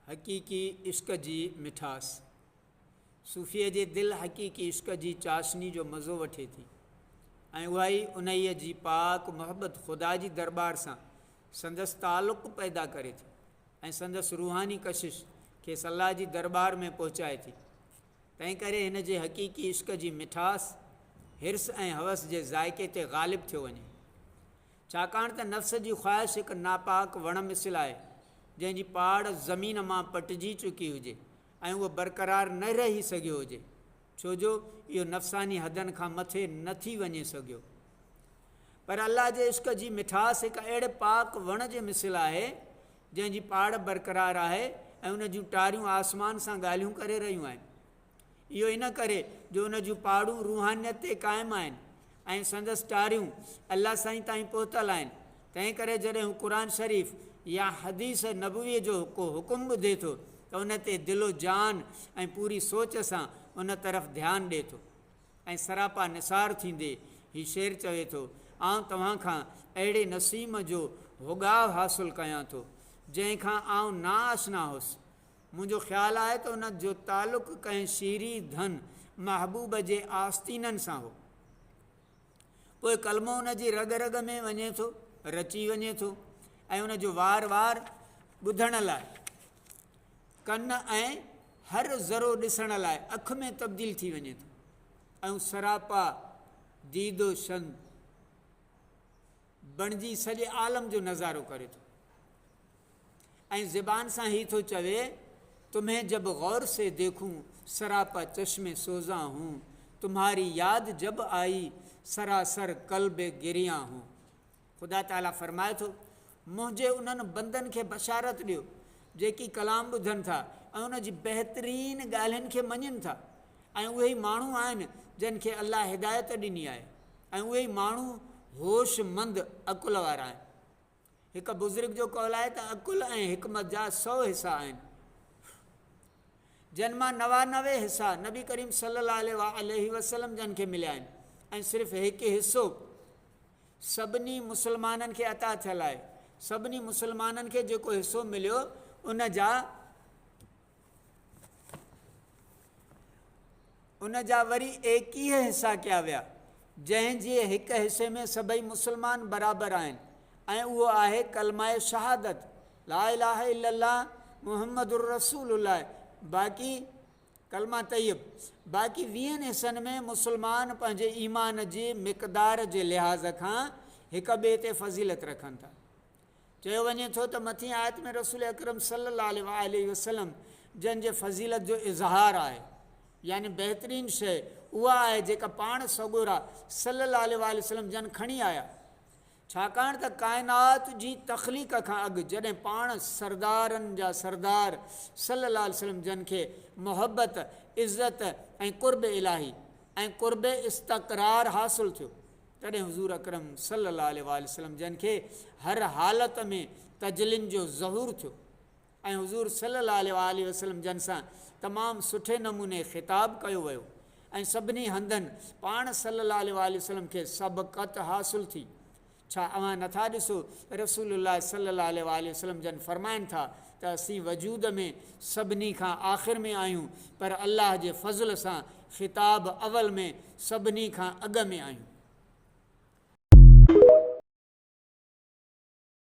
حقيقي عشق جي مٺاس، صوفيء جي دل حقيقي عشق جي چاشني جو مزو وٺي ٿي ۽ اها ئي انهيء جي پاڪ محبت خدا جي درٻار سان سندس تعلق پيدا ڪري ٿي ۽ سندس روحاني ڪشش کيس الله جي درٻار ۾ پهچائي ٿي. تنهن ڪري هن جي حقيقي عشق جي مٺاس حرص ۽ حوس جي ذائقي تي غالب ٿيو وڃي. ڇاڪاڻ ته نفس جي خواهش هڪ ناپاڪ وڻ مثل آهي، جنهن جي پاڙ زمين مان پٽجي چڪي هجي ۽ اهو برقرار نه رهي سگهيو هجي، ڇو جو اهو نفساني حدن کان مٿي نه ٿي وڃي سگهيو. پر الله جي عشق جي مٺاس هڪ اهڙي پاڪ وڻ جي مثل آهي، جنهن جي پاڙ برقرار آهي ۽ ان جون ٽاريون آسمان سان ڳالهيون ڪري رهيون آهن. اهو ان ڪري جو ان جون پاڙون روحانيت تي قائم آهن ۽ سندس ٽاريون الله سائين تائين پهتل آهن تنهن ڪري جڏهن هو قرآن شريف يا حديث نبويء جو ڪو حڪم ٻڌي ٿو ته ان تي دل و جان ۽ پوري سوچ سان ان طرف ڌيان ڏي ٿو ۽ سراپا نثار ٿيندي هي شعر چوي ٿو آئون توهان کان اهڙي نسيم جو هوڳاء حاصل ڪيان ٿو جنهن کان آئون ناآشنا هوس منهنجو خيال آهي ته ان جو تعلق ڪنهن شيري ڌن محبوب جي آستينن سان هو. پوء ڪلمو ان جي رڳ رڳ ۾ وڃي ٿو، رچي وڃي ٿو ۽ ان جو وار وار ٻڌڻ لاء ڪن ۽ هر ذرو ڏسڻ لاء اک ۾ تبديل ٿي وڃي ٿو ۽ سراپا ديد و شن بڻجي سڄي عالم جو نظارو ڪري ٿو ۽ زبان سان هي ٿو چوي تمهين جب غور سي ديکون سراپا چشم سوزان هون تمهاري ياد جب آئي سراسر قلب گريان هون خدا تعالي فرمائي ٿو منهنجي انهن بندن کي بشارت ڏيو جيڪي ڪلام ٻڌن ٿا ۽ ان جي بهترين ڳالهين کي مڃن ٿا ۽ اهي ماڻهو آهن جن کي الله هدايت ڏني آهي ۽ اهي ئي ماڻهو هوش مند عقل وارا آهن. هڪ بزرگ جو قول آهي ته عقل ۽ حڪمت جا سؤ حصا آهن، جن مان نوانوي حصا نبي ڪريم صلي الله عليه وآله وسلم جن کي مليا آهن ۽ صرف هڪ حصو سڀني مسلمانن کي عطا ٿيل آهي. سڀني مسلمانن کي جيڪو حصو مليو ان جا ان جا وري ايڪيهه حصا ڪيا ويا جنهن جي هڪ حصي ۾ سڀئي مسلمان برابر آهن ۽ اهو آهي ڪلمه شهادت لا اله الا الله محمد رسول الله باقي ڪلمه طيب باقي ويهن حصن ۾ مسلمان پنهنجي ايمان جي مقدار جي لحاظ کان هڪ ٻئي تي فضيلت رکن ٿا چيو وڃي ٿو ته مٿين آيت ۾ رسول اڪرم صلي الله عليه وآله وسلم جن جي فضيلت جو اظهار آهي يعني بهترين شيء اها آهي جيڪا پاڻ سڳورا صلي الله عليه وآله وسلم جن کڻي آيا ڇاڪاڻ ته ڪائنات جي تخليق کان اڳ جڏهن پاڻ سردارن جا سردار صلي الله عليه وسلم جن کي محبت عزت ۽ قرب الاهي ۽ قرب استقرار حاصل ٿيو تڏهن حضور اڪرم صلي الله عليه واٰله وسلم جن کي هر حالت ۾ تجلين جو ظهور ٿيو ۽ حضور صلي الله عليه واٰله وسلم جن سان تمام سٺي نموني خطاب ڪيو ويو ۽ سڀني هنڌن پاڻ صلي الله عليه واٰله وسلم کي سبقت حاصل ٿي ڇا اوهان نٿا ڏسو رسول الله صلي الله عليه واٰله وسلم جن فرمائن ٿا ته اسين وجود ۾ سڀني کان آخر ۾ آهيون پر الله جي فضل سان خطاب اول ۾ سڀني کان اڳ ۾ آهيون.